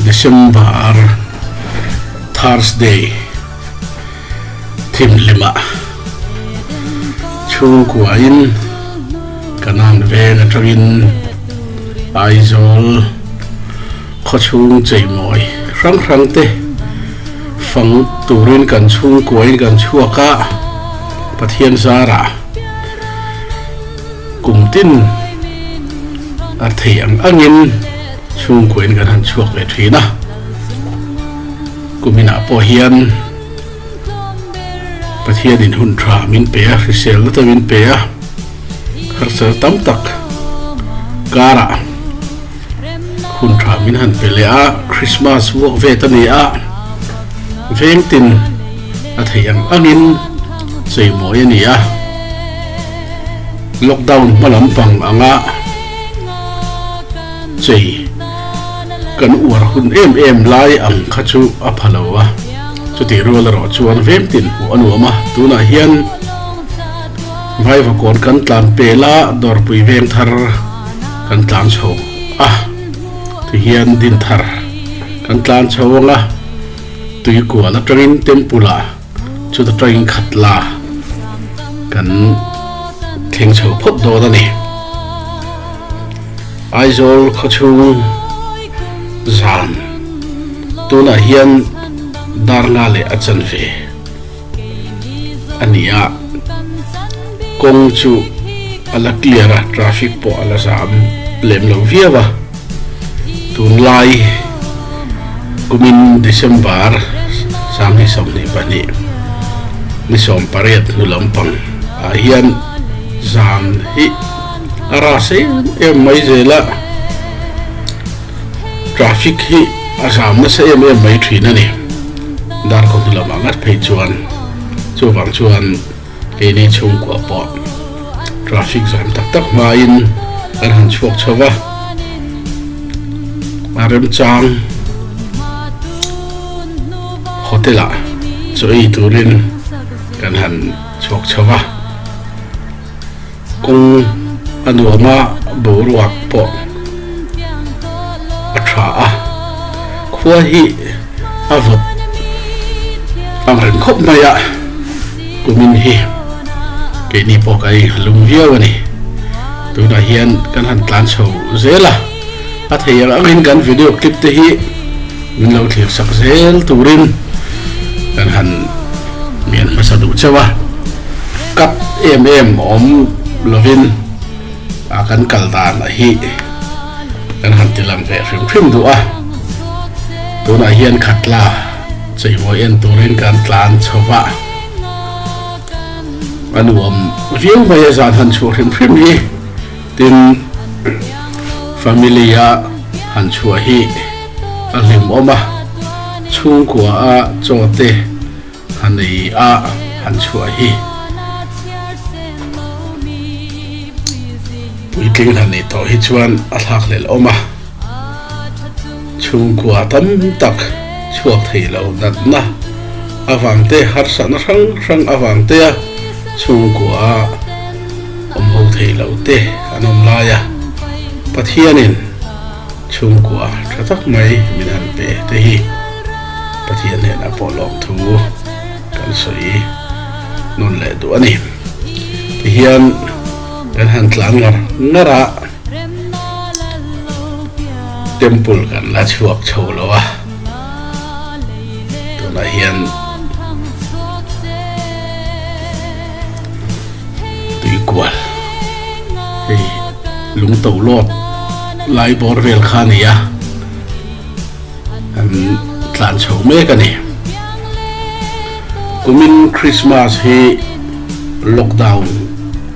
December Thursday thimhlimah chhungkuain ka nan veng atangin Aizawl khawchhung cheimawi hrang hrang te fang turin kan chhungkuain kan chhuak a, Pathian zarah. Kum tin a theih ang angin chhungkuain kan han chhuak ve thin a, kum inah pawh hian Pathian in hun tha min pe a, hrisel nata min pe a, harsel tam tak karah, Hunṭha min han pe leh a, Krismas vuah ve ta ni a, veng tin a theih ang angin cheimawi a ni a. Lockdown hma lampang anga chei kan uar hun em em lai ang kha chu a pha lo a, chutih rual erawh chuan veng tin hmuh a nuam a. Tunah hian vaiva kawn kan tlan pe la, dawrpui veng thar. kan tlan chho a, ti hian din thar kan tlan chho ang a, tui kual atangin temple ah chuta tangin khat la kan thleng chho phawt dawn a ni. Aizawl khawchhung zan tunah hian dar nga leh a chanve. a ni a, kawng chu a la clear a, traffic pawh a la zam lem lo viau a, tunlai kumin December sanghnih sawmhnih pahnih ni sawm pariat hnu lampang ah hian zan hi a ra se em mai zel a. Traffic hi a zam nasa em em mai thin a ni. Dar kawng hnilawm a ngat phei chuan chuvang chuan keini chhungkuah pawh traffic zam tak tak hmain kan han chhuak chho va, a remchang hotel ah chaw ei turin kan han chhuak chho va. kawng a nuama boruak pawh a tha a, khua hi a vawt ang reng khawp mai a, kumin hi keini pawh ka inhalung viau a ni, tunah hian kan han tlan chho zel a. a thei ang angin kan video clip te hi min lo thlîr chak zêl tûrin kan han mian hmasa duh chauh a, kap êm êm awm lovin a kan kal dânah hi kan han tilang ve hrim hrim duh a, tûnah hian khat la chawihmawih en tûrin kan tlân chho va, a nuam viau maia zan han chhuah hrim hrim hi. Tin, family a han chhuah hi a hlimawm a, chhungkua a chaw te ha nei a han chhuah hi. Puitling han nei tawh hi chuan a hlak hlelh awm a. Chhungkua tam tak chhuak thei lo natna avangte harsatna hrang hrang avangtea chhungkuaah awmho thei lote an awm lai a, Pathianin chhungkua tha tak mai min han pe te hi Pathian hnena a pawh lawm thu kan sawi nawn leh duh a ni. Tihian kan han tlan ngar ngar a. Temple kan la chhuak chho lo a, tunah hian Tuikual hei Lungto lawt lai bawr vel kha a ni a, an tlan chho mek a ni. Kumin Krismas hi lockdown.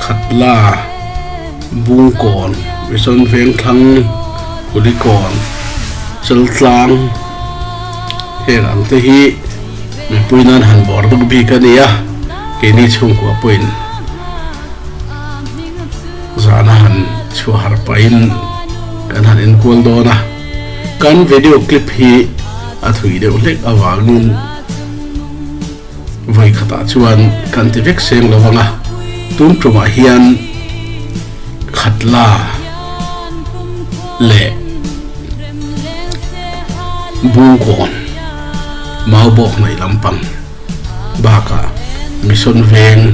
Khatla, Bungkawn, Mison Vengthlang, Kulikawn, Cheltlang heng ang te hi mipui nan han bawr deuh bik a ni a, keini chhungkua pawhin zana han chhuah harh pahin kan han enkual dawn a, kan video clip hi a thui deuh hlek avangin. Vawi khatah chuan kan ti vek seng lo ang a, tun ṭumah hian khat la leh Bunkawn Maubawk hnaih lampang bakah Mission Veng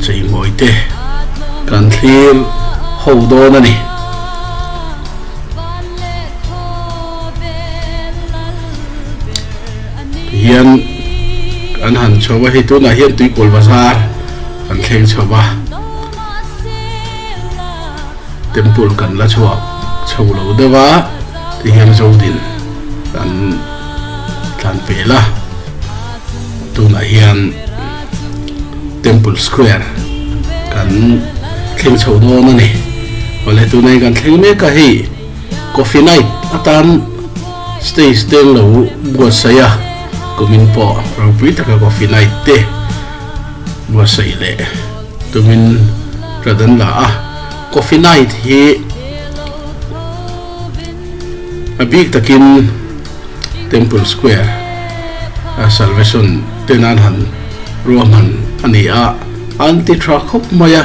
cheimawite kan thlir ho dawn a ni. hian an han chho va hi tunah hian tuipawl bazar kan thleng chho va temple kan la chhuak chho lo deuh a ti hian zodin kan tlan pe la tunah hian temple square kan thleng chho dawn a ni awle tunah hian kan thleng mek a hi Coffee night atan stage te an lo buatsaih a, kumin pawh ropui taka coffee night te buatsaih leh tumin hrat an la a. Coffee night hi a bik takin Temple Square Salvation te nan han ruahman a ni a, an ti tha khawp mai a,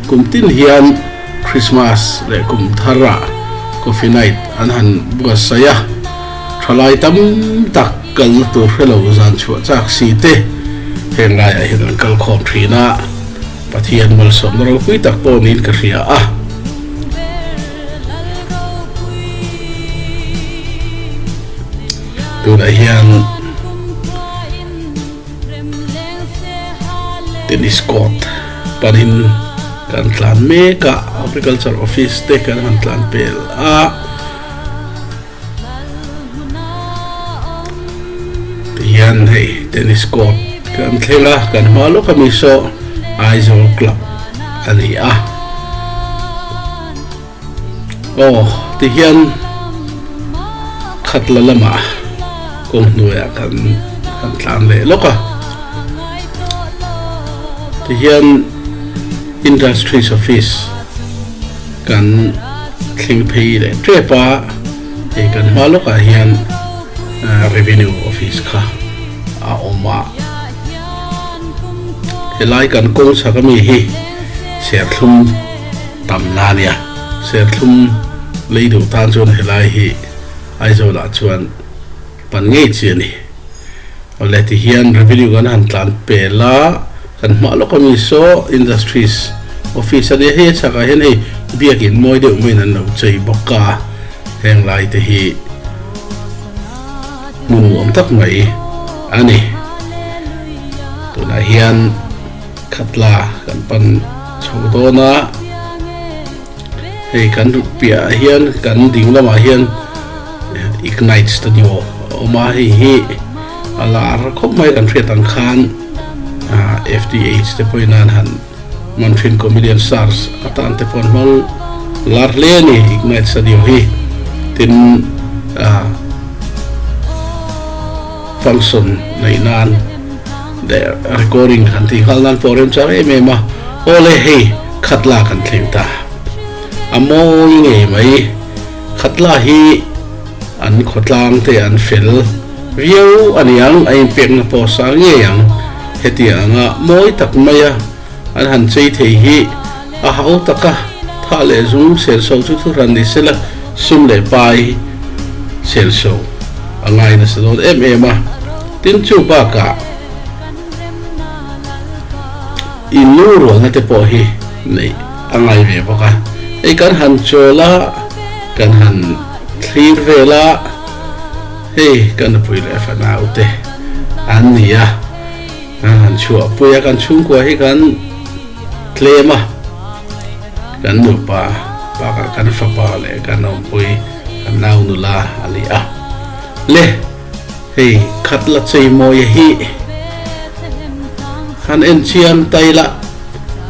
kum tin hian. Krismas leh kum thar ah coffee night an han buatsaih a, thalai tam tak kalna tur hrelo zan chhuah chak si te heng lai ah hian an kal khawm thin a, Pathian malsawmna ropui tak pawh niin ka hria a. Tunah hian. Tennis court panin kan tlan mek a, Agriculture Office te kan han tlan pel a. Tihian hei Tennis court kan thleng a, kan hma lawk a Miso Aizawl Club a ni a. Aw tihian khatla lama kawng hnuaia kan kan tlan leh lawk a, tihian Industries Office kan thleng phei leh tep a, hei kan hma lawkah hian Revenue Office kha a awm a, helai kan kawng chak ami hi Serthlum. tam na nia. Serthlum lei duh tan chuan helai hi Aizawl ah chuan pan ngei chi a ni. Awle tihian revenue kan han tlan pel a, kan hmah lawk ami saw industries office a nia. Hei a chhak ah hian hei biak in mawi deuh maiin an lo chei bawk a, heng lai te hi hmun nuam tak mai a ni. Tunah hian. Khatla kan pan chho dawn a, hei kan ruk piah ah hian kan ding lam ah hian Ignite Studio a awm a, hei hi a lar khawp mai kan hriat ang khan FTH te pawhin a han man thin Comedian Stars atan te pawh an hmang lar hle a ni Ignite Studio hi tin a. function neih nan der recording kan tih nghal nan pawh remchang em em a awle hei khat la kan thleng ta a mawi ngei mai khat la hi an khawtlang te an fel viau a ni ang a in pek na pawh sang ngei ang hetiang anga mawi tak mai a an han chei thei hi A hau tak a, thah leh zum selso chu thu hran ni sela sum leh pai selso a ngai nasa dawn em em a. Tin chu bakah i nu rualna te pawh hi neih a ngai ve bawk a, hei kan han chawl a, kan han thlir vel a, hei ka nupui leh fanau te an ni a, an han chhuahpui a, kan chhungkua hi kan. tlem a, kan nupa bakah kan fapa leh kan awmpuii kan nau nula a ni a, le hei khat la cheimawia hi han enchiang ta ila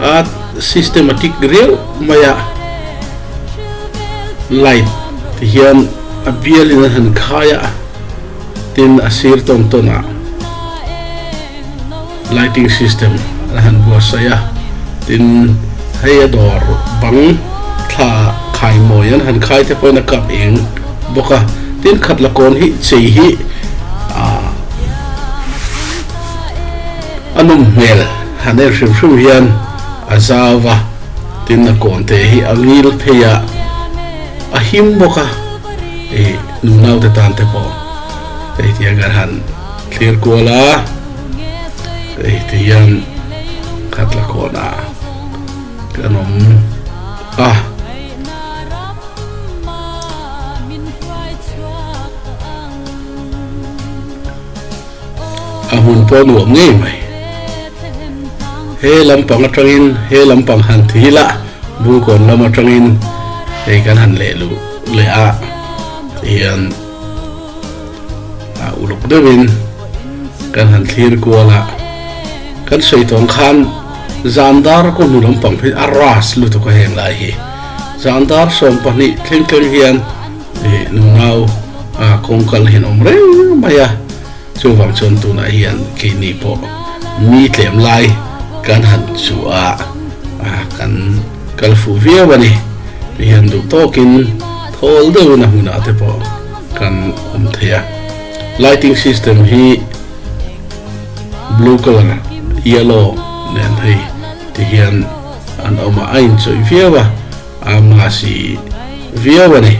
a systematic riauh mai a light ti hian a bial in a han khai a tin a sir tawn tawn a. Lighting system a han buatsaih a, tin hei a dawr bang thla khai mawi an han khai te pawhin a kap eng bawk a, tin khat la kawn hi chei hi ah a nawm hmel han en hrim hrim hian a zau a, tin a kawn te hi a ngil phei a, a him bawk a, ih nu naute tan te pawh hei tiang hian han. Thlir kual a, ei ti hian khat la khawh na kan awm a. A hmun pawh nuam ngei mai. He lam pang atangin, he lam pang han thi la, Bunkawn lam atangin hei kan han leh luh leh a ti hian. a uluk deuhin kan han thlir kual a, kan sawi tawng khan zan dar ka hnu lampang hi a ras lutuk a heng lai hi, zan dar sawm pahnih thleng thleng hian nunau kawngkal hi an awm reng mai a. Chuvang chuan tunah hian kei ni pawh mi tlem lai kan han chu a kan kal fuh viau a ni. Kei hian duh tawkin thawl deuhin a hmunah te pawh kan awm thei a. Lighting system hi blue colour, yellow nen phei te hian an awm a, a inchawih viau a, a mahsi viau a ni.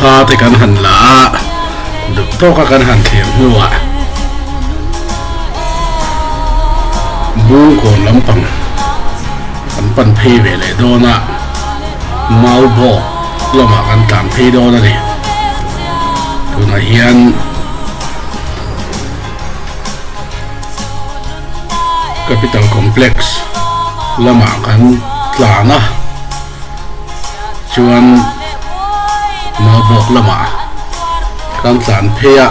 Thla te kan han la a, duk tawka kan han thlem hnuah Bungkawn lampang kan pan phei ve leh dawn a, Mau Bawk Lamah kan tlan phei dawn a ni. Tunah hian Capital Complex lamah kan tlan a, chuan Mawbawk lamah kan tlan phei a.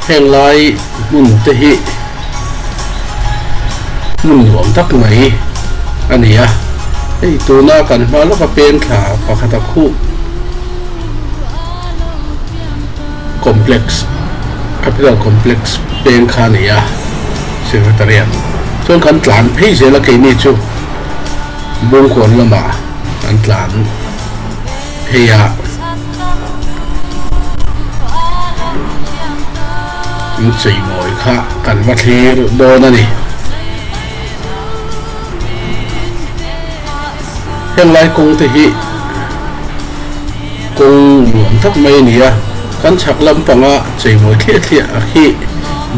Heng lai. Hmun te hi hmun nuam tak mai a ni a, hei tuna kan hma lawka pengthla pakhata khuh complex, capital complex peng kha a ni a, Secretariat chuan kan tlan phei zel a keini chu Bungkawn lama an tlan phei a. Thil cheimawi kha kan va thlir dawn a ni. Heng lai kawng te hi kawng nuam tak mai a ni a, kan chhak lam panga cheimawi thliah thliah a khi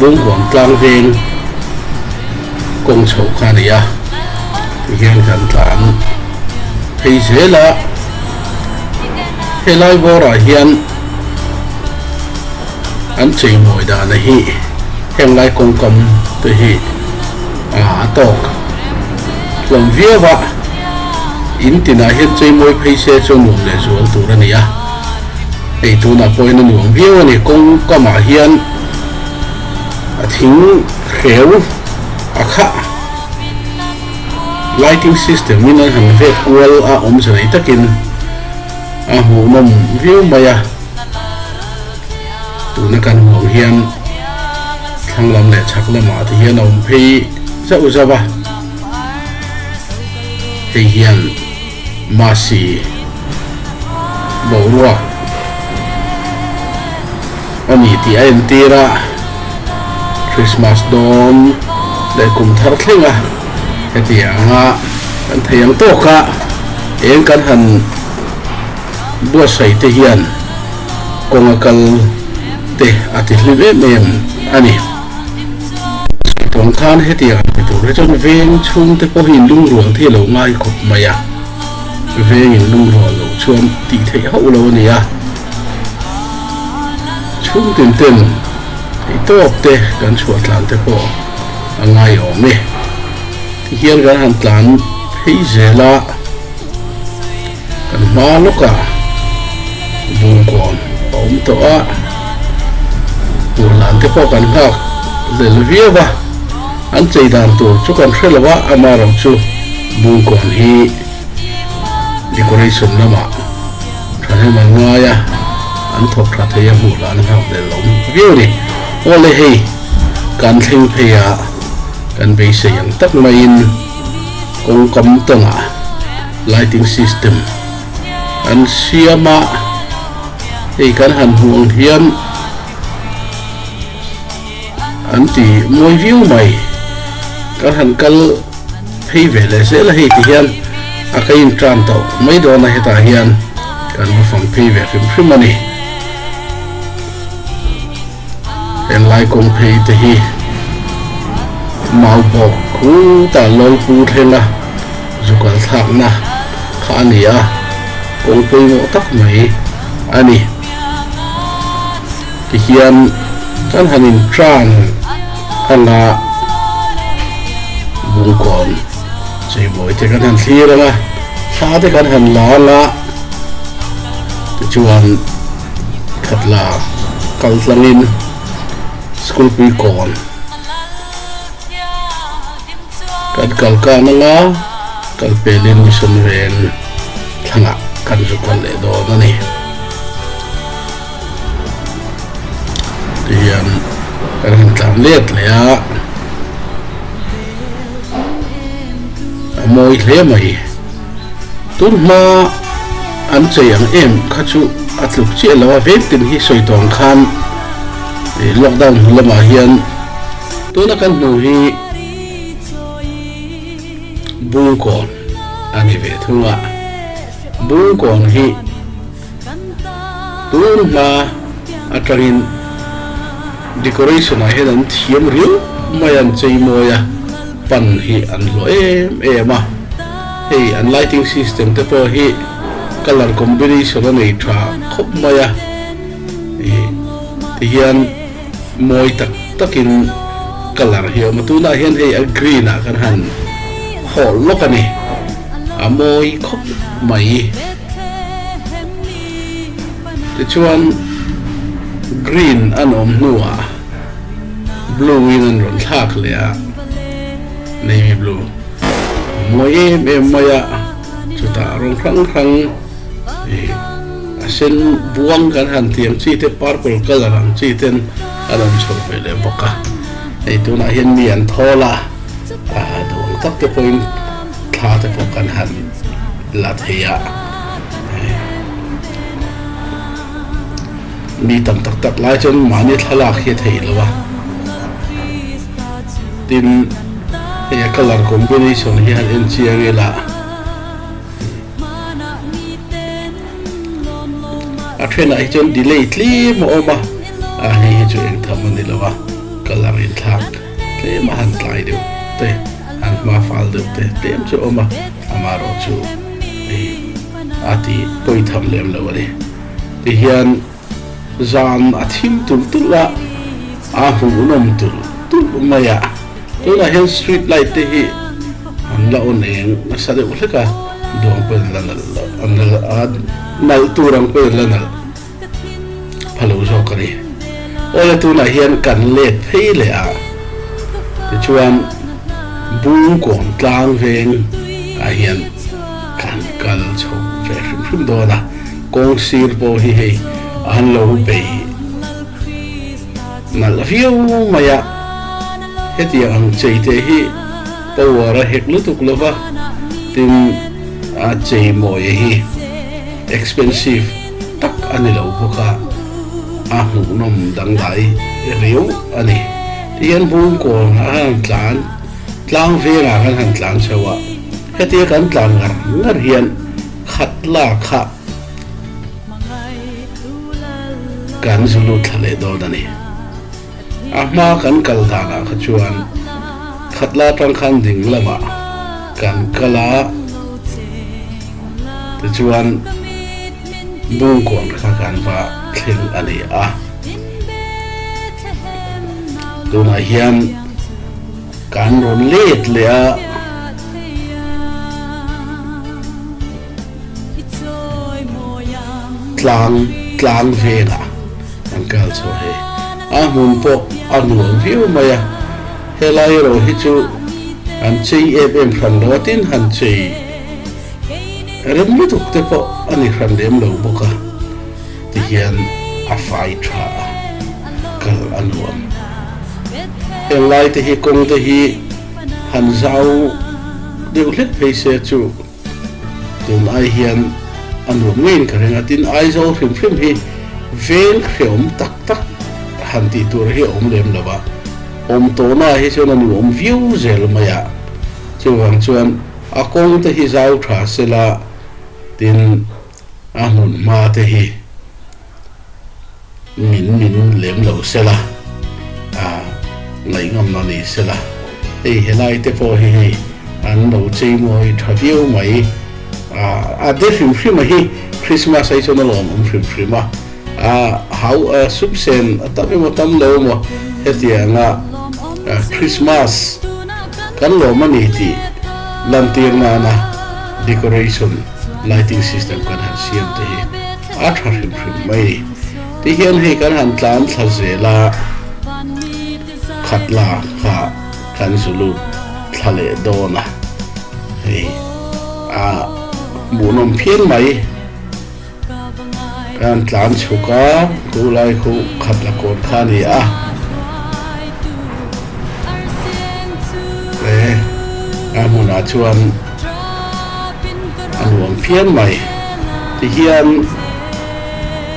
Bungrâwm Tlangvêng kawng chho kha a ni a, ti hian kan tlan phei zêl a. He lai vâwrah hian. an cheimawi dana hi henglai kawngkam te hi a tawk hlawm viau a, in tinah hian cheimawi phei se chu nuam leh zual tur a ni a, hei tunah pawhin a nuam viau a ni, kawngkamah hian a thing hreu a khah lighting system in a han vet kual a awmze nei takin a hmuhnawm viau mai a. Tuna kan hmuh hian thlang lam leh chhak lamah te hian a awm phei zauh zauh a. Hei hian Mahsi boruak a ni tih a entir a. Krismas dawn leh kum thar thleng a hetiang a kan thei ang tawk a. Eng kan han. Buatsaite hian kawnga kal te a ti hlim em em a ni. Sawipuang khan hetiang an ti tur hi chuan veng chhungte pawh hi lungrual thi lo ngai khawp mai a, vengin lungrual loh chuan tih theih hauh lo a ni a. Chhungtin ten hei tawp te kan chhuah tlan te pawh a ngai awm e. Ti hian kan han tlan phei zel a. Kan hma lawka bum kuam a awm tawh a, tur dan te pawh kan nghak zel viau a, an chei dan tur chu kan hre lo a, ama erawh chu bum kuam hi decoration lamah thahnem an ngai a, an thawk tha thei a hmuh lah an nghak zel awm viau ni. Aw le hei, kan thleng phei a kan beisei ang tak maiin. kawngkam tawnah lighting system an siam a, hei kan han hmuh ang hian an ti mawi viau mai, kan han kal phei ve leh zel a hei ti hian a ka in tan tawh mai dawn a hetah hian kan va fam phei ve hrim hrim a ni. Helai kawng phei te hi mau bawk khutah lawlpui thlenga zukal thlakna kha a ni a, kawng pawimawh tak mai a ni ti hian kan han inṭan a la bungkawn cheibawi te kan han thlir anga, thla te kan han la anga tichuan, that la kal tlang in school pui kawn kan kal kan ang a kal pel in mission vel thlang ah kan zu kal leh dawn a ni ti hian kan han tlan let leh a a mawi hle mai Tunhma an chei ang em kha chu a tluk chiah lo a, vengtin hi sawi tawng khan lockdown hnu lamah hian tuna kan hmuh hi bungkawn a ni ve thung a, bungkawn hi. Tun hma atangin decoration ah hian an thiam riau mai a, an chei mawi a, pan hi an hlawh em em a, hei an lighting system te pawh hi colour combination a nei tha khawp mai a, tihian. Mawi tak takin ka lar hi a awm a, tunah hian hei a green ah kan han hawl lawk a ni, a mawi khawp mai. Tichuan green an awm hnuah blue in an rawn thlak leh a, navy blue a mawi em em mai a, chutah rawng hrang hrang. a sen buang kan han tih ang chi te purple colour ang chi ten a rawn chho ve leh bawk a, hei tunah hian mi an thawl a, aa duang tak te pawhin thla te pawh kan han la thei a, mi tam tak tak lai chuan mahni thlalak hi a thei lo a, tin hei a colour combination hian enchiang ila. A then ah hi chuan delay tlem a awm a, a hnih hi chu eng tham a ni lo a, colour in thlak tlem a han tlai deuh te, han hma fal deuh te tlem chu a awm a, amah erawh chu hei a ti pawi tham lem lo a ni. Tihian. Zan a thim tulh tulh a, aa huhnawm tulh tulh mai a. Tunah hian street light te hi an la on eng nasa deuh hlek a, duang pawhin la nalh loh a nalh a, nalh tur ang pawhin la nalh pha lo zawk a ni. Aw le tunah hian kan let phei leh a, tichuan bung kawm tlang veng ah hian kan kal chho ve hrim hrim dawn a. Kawng sir pawh hi hei an lo beih nalh riau mai a, hetiang ang chei te hi power a hek lutuk lo va, tin a chei mawia hi expensive tak a ni lo bawk a, a hmuhnawm dangdai riau a ni. Ti hian Bungkawn ah khan an tlan tlang vengah khan han tlan chho a, hetia kan tlan ngar ngar hian, Khat la kha kan zu lut thla leh dawn a ni. A hma kan kal dan ah kha chuan khat la tang khan ding lam ah kan kal a, tichuan bung kuang kha kan va thleng a ni a. Tunah hian. Kan rawn let leh a. Tlang tlang vengah kan kal chhuah hi a hmun pawh a nuam viau mai a. Helai erawh hi chu han chei em em hran lo a tin han chei rem lutuk te pawh a ni hran lem lo bawk a. tihian a fai tha a, kal a nuam. Helaite hi kawngte hi han zau deuh hlet phei se chu tun ai hian a nuam ngeiin ka ring a, tin Aizawl hrim hrim hi veng hreawm tak tak han tih tur hi a awm lem lo a, awm tawhnaah hi chuan a nuam viau zel mai a, chuvang chuan a kawngte hi zau tha se la tin A hmun hma te hi min min lem lo se la, ah ngaih ngam lo ni se la, hei helai te pawh hi hei an lo chei mawi tha viau mai. Ah a de hrim hrim a hi, Christmas hi chuan a lawm awm hrim hrim a, ah hau sum sen a tam em a tam lo maw hetiang a Christmas kan lawm a ni tih lantir nana decoration, lighting system kan han siam te hi a tha hrim hrim mai ni. Ti hian hei kan han tlan thla zel a, khat la kha kan zu lut thla leh dawn a, hei a hmuhnawm phian mai kan han tlan chhuk a, khu lai khu khat la kawn kha ni a, a hmunah chuan. a nuam phian mai ti hian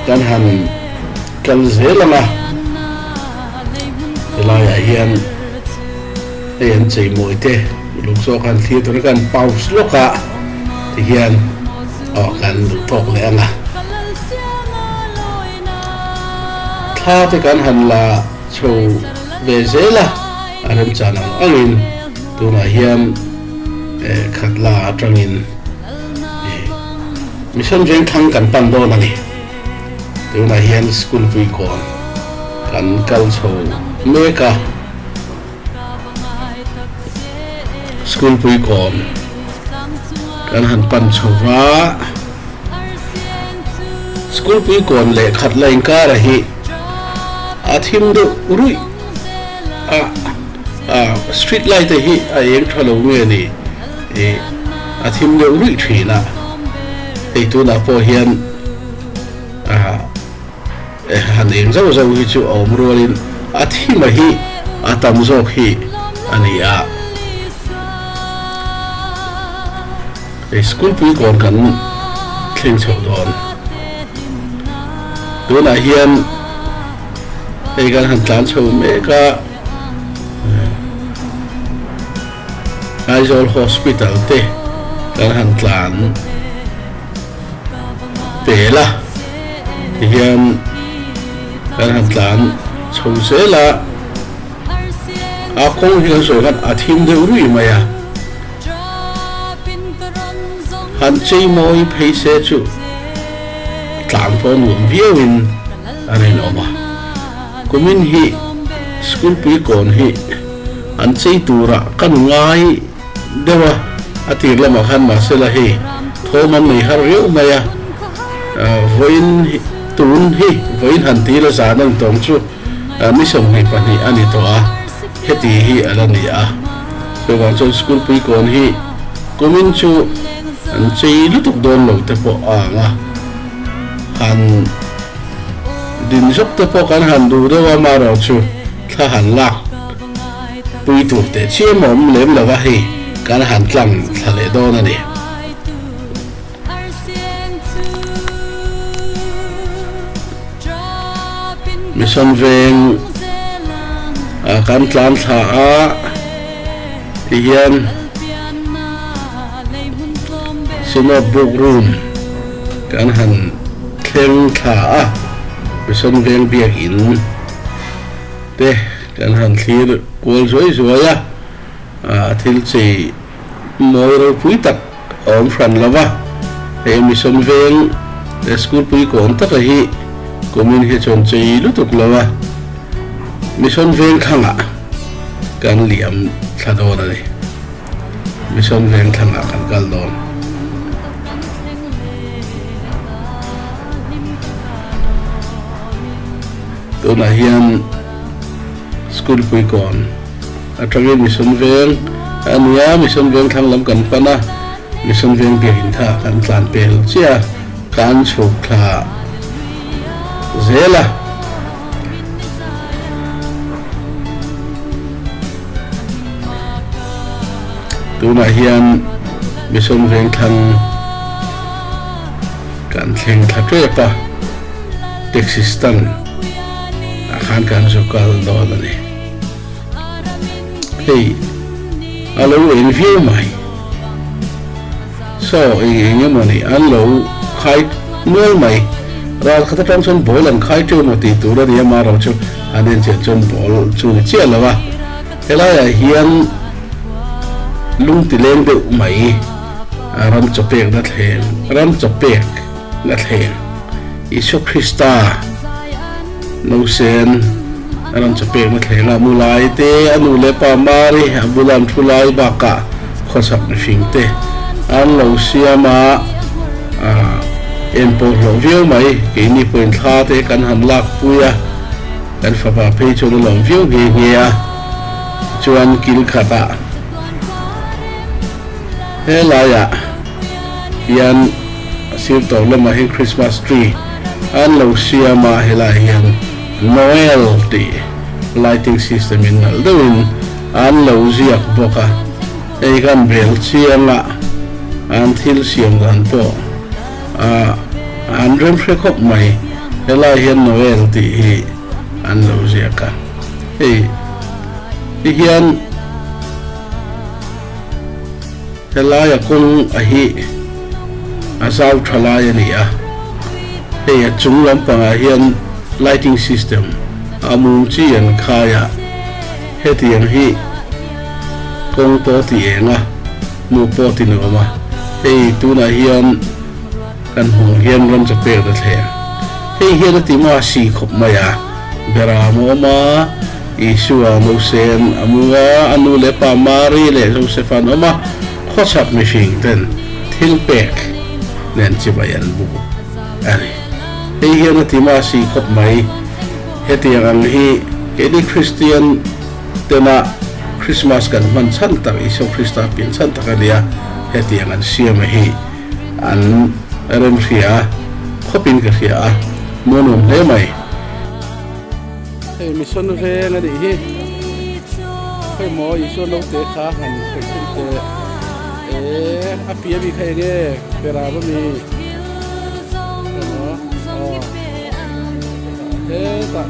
kan han kal zel ang a, helaiah hian hei an cheimawi te lung saw khan thlir tur a kan paus lawk a ti hian awh kan duh tawk leh ang a, thla te kan han la chho ve zel a, a remchang ang angin tunah hian. eh khat la atangin eh mission veng thlang kan pan dawn a ni tunah hian school puikawn kan kal chho mek a school puikawn kan han pan chho va school puikawn leh khat la inkar a hi a thim deuh ruih a Ahh street light te hi a êng tha lo nge ni? Ih a thim deuh ruih thin a, hei tunah pawh hian ahh han êng zauh zauh hi chu a awm rualin a thim a hi a tam zawk hi a ni a. Hei school puikawn kan thleng chhoh dawn tunah hian hei kan han tlan chho mek a. Aizawl Hospital te kan han tlan tel a, tihian kan han tlan chho zel a, a kawng hi kan sawi khan a thim deuh ruih mai a, han chei mawi phei se chu tlan pawh a nuam viau in a rinawm a. Kumin hi school puikawn hi an chei tura kan ngai deuh a, a tir lamah khan mahsela hei thawm an nei har riau mai a, vawiin tun hi vawiin han ti la zan a ni tawng chu ni sawmhnih pahnih a ni tawh a, heti hi a la ni a, chuvang chuan school puikawn hi kumin chu an chei lutuk dawn lo te pawh a ang a. han din zawk te pawh kan han duh deuh a Maro chu thla han lak pui tur teh chiam a awm lem lova hei kan han tlang thla leh dawn a ni. Mission veng ah kan tlan thla a ti hian Synod Book Room. Kan han thleng thla a, mihsan veng biak in te kan han thlir kual zuai zuai a, a thil chei mawi ropui tak a awm hran lo va, hei mihsan veng leh school puikawn taka hi kumin hi chuan chei lutuk lo a, mihsan veng thlang ah kan liam thla dawn a ni. Mission veng thlangah kan kal dawn. Tunah hian School Puikawn atangin Mission veng a nia, Mission veng thlang lam kan pan a, Mission veng biakin kha kan tlan pe lo chiah a, kan chhuk thla zel a. Tunah hian Mission Vengthlang kan thleng thla tep a, taxi stand ah khan kan zu kal dawn a ni. Hei a lo en viau mai. Saw hi eng emaw ni an lo khai nual mai. Ral khat atang chuan bawl an khai teuh maw tih tur a ni a, Maro chu an enchian chuan bawl chu a ni chiah lo a, helaiah hian lungti leng deuh mai ram chaw pekna thleng ram chaw pek. la thleng Isua Krista no sen a rawn che pek na thleng a mu lai te a nu leh pa Mari a bula an thu lai bakah khawsak mihring te an lo siam a en pawh hlawh viau mai keini pawhin thla te kan han lak pui a kan fapa phei chuan a lawm viau nghe nghe a chuan kil khatah he laiah hian a sir tawh lamah hi Christmas tree an lo siam a, helaiah hian Noel tih lighting system in nalh deuhin an lo ziak bawk a, hei khan bel chiangah an thil siam dan pawh an rem hre khawp mai, helaiah hian Noel tih hi an lo ziak a, hei hi hian. Helaia kawng a hi a zau tha lai a ni a, hei a chung lampangah hian lighting system a mum chi an khai a, hetiang hi kawng pawh ti eng a, hmuh pawh ti nuam a, hei tunah hian. Kan hmuh hian ram che pek ta thle. Hei hian a ti mah a si khawp mai a, bera a mawm a, Isua Mosen a mu a, a nu leh pa Mari leh Josef an awm a, khawchhak mihring ten thil pek nen chi mai an bu a ni. Hei hian a ti mah a si khawp mai. Hetiang ang hi keini Kristian tena Krismas kan hman chhan tak, Isua Krista pinchhan tak a nia, hetiang an siam a hi. an rem hria a, khawp in ka hria a, maw nuam hle mai. Hei mission veng a nih hi, khawi maw Isua naute kha han khawi philh teh eeh a pi a mi kha eng e perab a mi khawi maw aww hetah.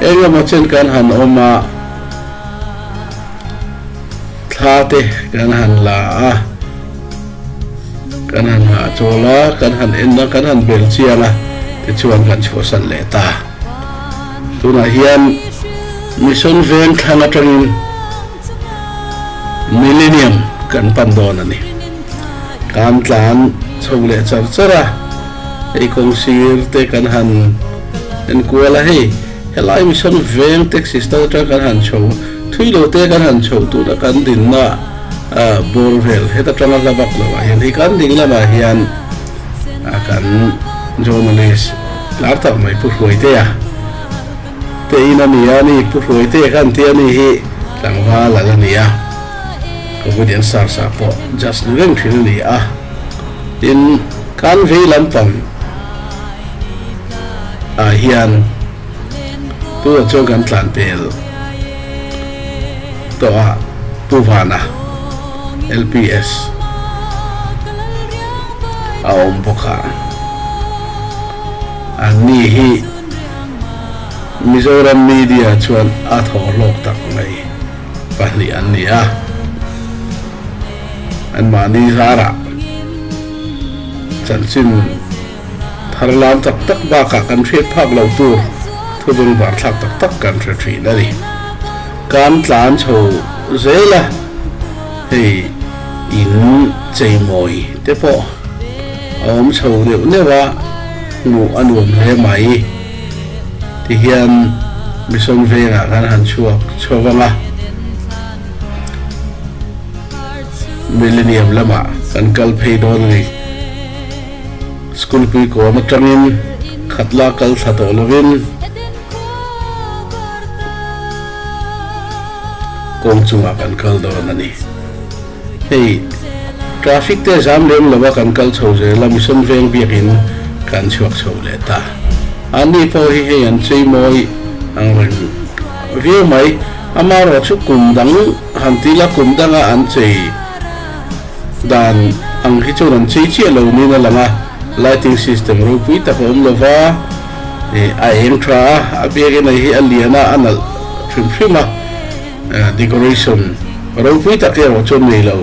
Engemaw chen kan han awm a, thla te kan han la a, kan han hahchawl a, kan han en a, kan han bel chiang a, tichuan kan chhuahsan leh ta. Tunah hian Mission veng thlang atangin Millennium kan pan dawn a ni. Kan tlan chho leh char char a, hei kawng sir te kan han en kual a, hei helai mission veng taxi stand atang kan han chho a, thui lo te kan han chho tuna kan din na bawr vel heta tanga hla bak lo ah hian hi kan ding lam ah hian kan journalist tlar tak mai pu hruai te a. Tein a ni a ni, Pu Hluaite kha an ti a ni hi, tlangva lal a ni a, Comedian Sarsa pawh judge ni reng thin a ni a, tin kan vei lampang ah hian Pu ah chuan kan tlan pel tawh a, Pu Vana LPS a awm bawk a, an ni hi. Mizoram media chuan a thawhlawk tak mai pahnih an ni a, an mahni zarah chanchin thar lam tak tak bakah kan hriat phak lo tur thudung barthlak tak tak kan hre thin a ni. Kan tla an chho zel a, hei in cheimawi te pawh. A awm chho neuh neuh a, hmuh a nuam hle mai. Ti hian Mison vengah khan han chhuak chho vang a. Millennium lamah kan kal phei dawn a ni. School puikawn atangin khat la kal thla tawh lovin kawng chungah kan kal dawn a ni. Hei, traffic te zam lem lo a kan kal chho zel a, mission veng biak in kan chhuak chho leh ta. An ni pawh hi hei an cheimawi ang reng viau mai, ama erawh chu kum dang han ti ila, kum dang a an chei dan ang hi chuan an chei chiah lo niin a lang a, lighting system ropui tak a awm lo va, a eng tha a, a biak in a hi a lian a, a nalh hrim hrim a. Decoration ropui tak erawh chuan nei lo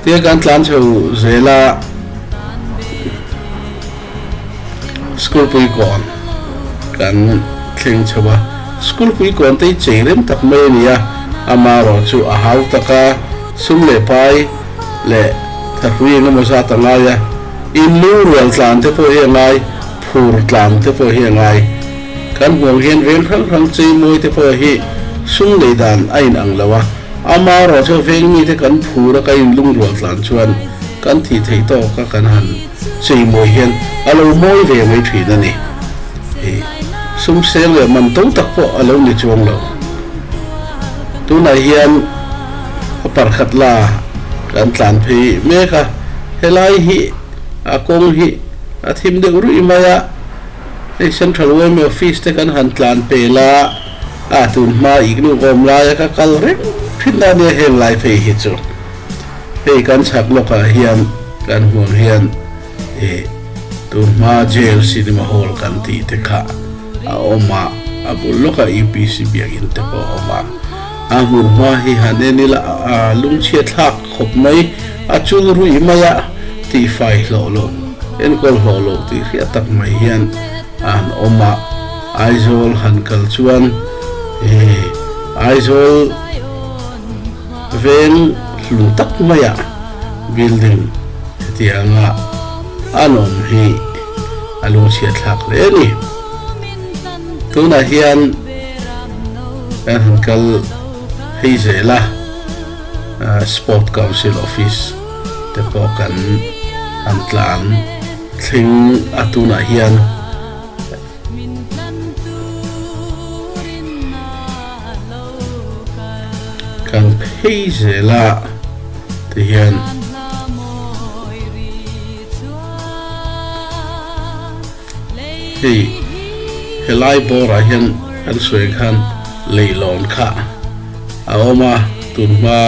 tia kan tlan chho zel a, school puikawn kan thleng chho a, school puikawn te hi chei rem tak mai a ni a, ama erawh chu a hau tak a, sum leh pai leh thlapui engemaw zat a ngai a, in lu rual tlan te pawh hi a ngai. Phur tlang te pawh hi a ngai. Kan hmuh hian veng hrang hrang chei mawi te pawh hi sum lei dan a in ang lo a. Ama erawh chu veng mi te kan phur a kan in lungrual tlan chuan kan tih theih tawk a kan han chei mawi hian a lo mawi ve mai thin a ni. I sum seng leh man to tak pawh a lo ni chuang lo. Tunah hian a parkhat la kan tlan phei mek a. Helai hi a kawng hi. A thim deuh ruih mai a, hei Central Uaime office te kan han tlan pel a, a tun hma iknuk awm laia ka kal reng thin a nia heng lai phei hi chu. Hei kan chhak lawkah hian kan huam hian eh tun hma jail cinema hall kan tih te kha a awm a, a bul lawkah UPC biak in te pawh a awm a, a hmun hma hi han en ila a lungchhiat thlak. Khawp mai, a chul ruih mai a, tifai hlawh lo, enkawl hlawh lo tih hriat tak mai hian a han awm a, Aizawl han kal chuan he Aizawl veng hlun tak maia building hetianga an awm hi a lu chhiat thlak hle a ni. Tunah hian kan han kal phei zel a. Sport Council Office te pawh kan han tlan thleng a tunah hian kan phei zel a ti hian. Hei he lai bawrah hian kan sawi khan leihlawn kha a awm a, tun hma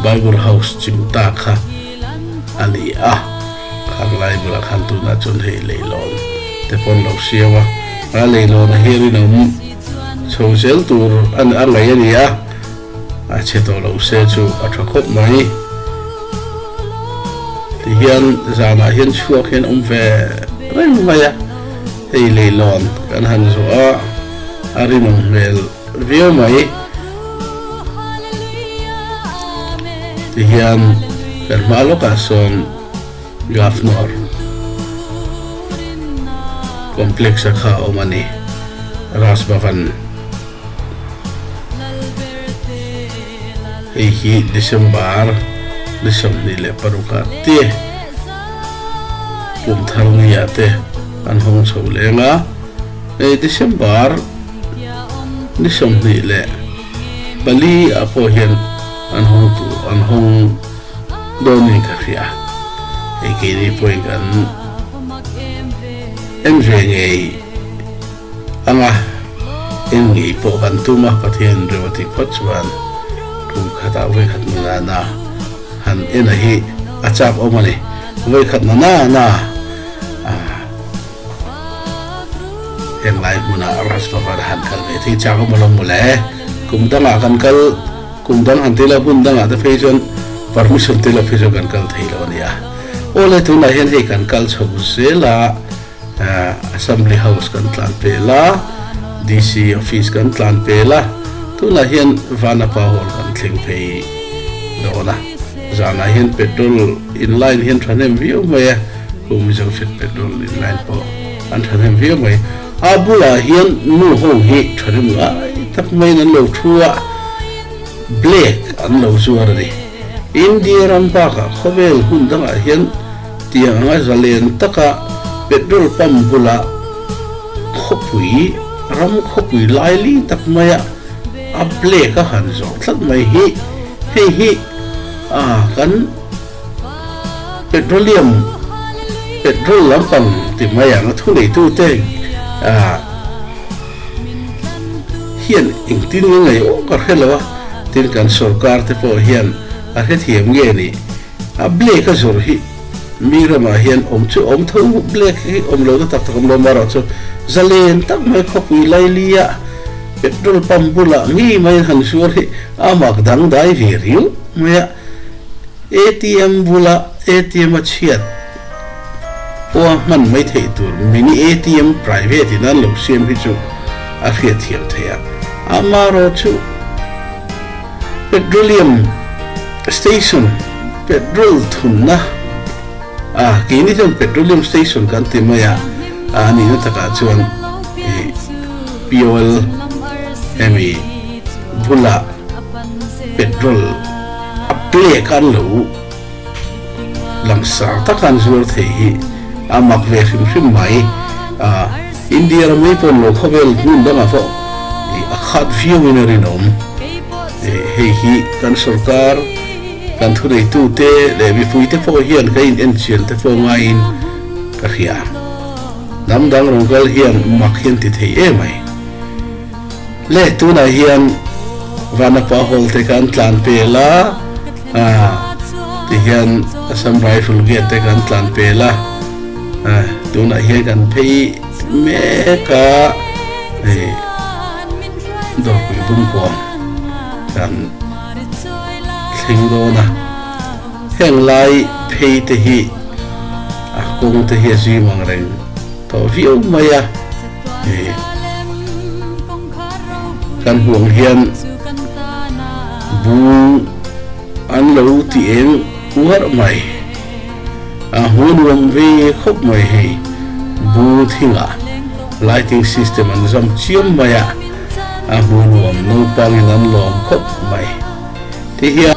Bible House chim ta kha a ni a, khang lai bulah khan tunah chuan hei leihlawn te pawn lo siam a, a leihlawnah hian rinawm chho zel tur a ngaih a ni a. a chhe tawh lo se chu a tha khawp mai. Tihian zanah hian chhuak hian awm ve reng mai a, hei leilawn kan han zawh a, a rinawm hmel viau mai. Tihian kan hma lawkah sawn Governor Complex-a kha a awm a ni, Raj Bhavan. Hei hi December ni sawmhnih leh paruk ah te pumthar ni ah te an hawng chho leng a, hei December ni sawmhnih leh pali ah pawh hian an hawng tur an hawng dawn niin ka hria a, hei keini pawhin kan en ve ngei. Ang a, eng nge i pawh kan tum a, Pathian reu a tih phawt chuan kum khatah vawikhat ni nana han en a hi a chak awm a ni. Vawikhat na nana a henglai hmuna Raj Bhavana han kal ve thei chak awm alawm mawle, kum dangah kan kal, kum dang han ti lo, hmun dangah te phei chuan permission te la phei chuan kan kal thei lo a nia. Awle tunah hian hei kan kal chho zela Assembly House kan tlan pel a, DC Office kan tlan pel a, tunah hian Vanapa Hall kan thleng phei dawn a. Zanah hian petrol in line hi an thahnem viau mai a, Kumi Junction petrol in line pawh an thahnem viau mai. A bulah hian nu ho hi thahnem ngai tak maiin an lo thu a, black an lo zuar a ni. India ram bakah khawvel hmun dangah hian, Tiang a zalen taka petrol pump bula khawpui ram khawpui laili tak maia a black a han zawh tlat mai hi hei hi ah kan petroleum petrol lampang ti mai ang a thuneitute ah hian engtin nge ngaih awk a hre lo a tin kan sorkar te pawh hian a hrethiam nge ni. A black a zawrh hi mi ramah hian awm chu awm tho black hi awm lo na tak tak a awm lo mah erawh chu zalen tak mai khawpui Lailia petrol pump bulah ngei mai han zuar hi a mak dangdai ve riauh mai a atm bula atm a chhiat pawha hman mai theih tur mini atm private in an lo siam hi chu a hriat thiam thei a amah erawh chu. Petroleum station, petrol thunna a, kei ni chuan petroleum station kan ti mai a, a nihna takah chuan fuel hemi bulah petrol a plek a an lo. Langsang taka an zuar thei hi a mak ve hrim hrim mai a. India ram rei pawn lo khawvel hmun bangah pawh a khat viauin a rinawm. Hei hi kan sorkar, kan thuneitute leh mipuite pawh hian kan inenchian te pawh ngaiin ka hria. Hnam dang rawn kal hian mak hian ti thei emai. Leh tunah hian Vana pa hawl te kan tlan pel a, tihian Assam Rifle gate te kan tlan pel a, tunah hian kan phei mek a, hei Dawrhpuii pumkuang kan thleng dawn a, heng lai phei te hi a kawng te hi a zui mangreng tawh viau mai a. Kan hmuh hian bu an lo ti eng uarh mai a, hmu nuam ve khawp mai hei bu thinga lighting system an zam chiam mai a, a hmu nuam naupangin an lawm khawp mai ti hian.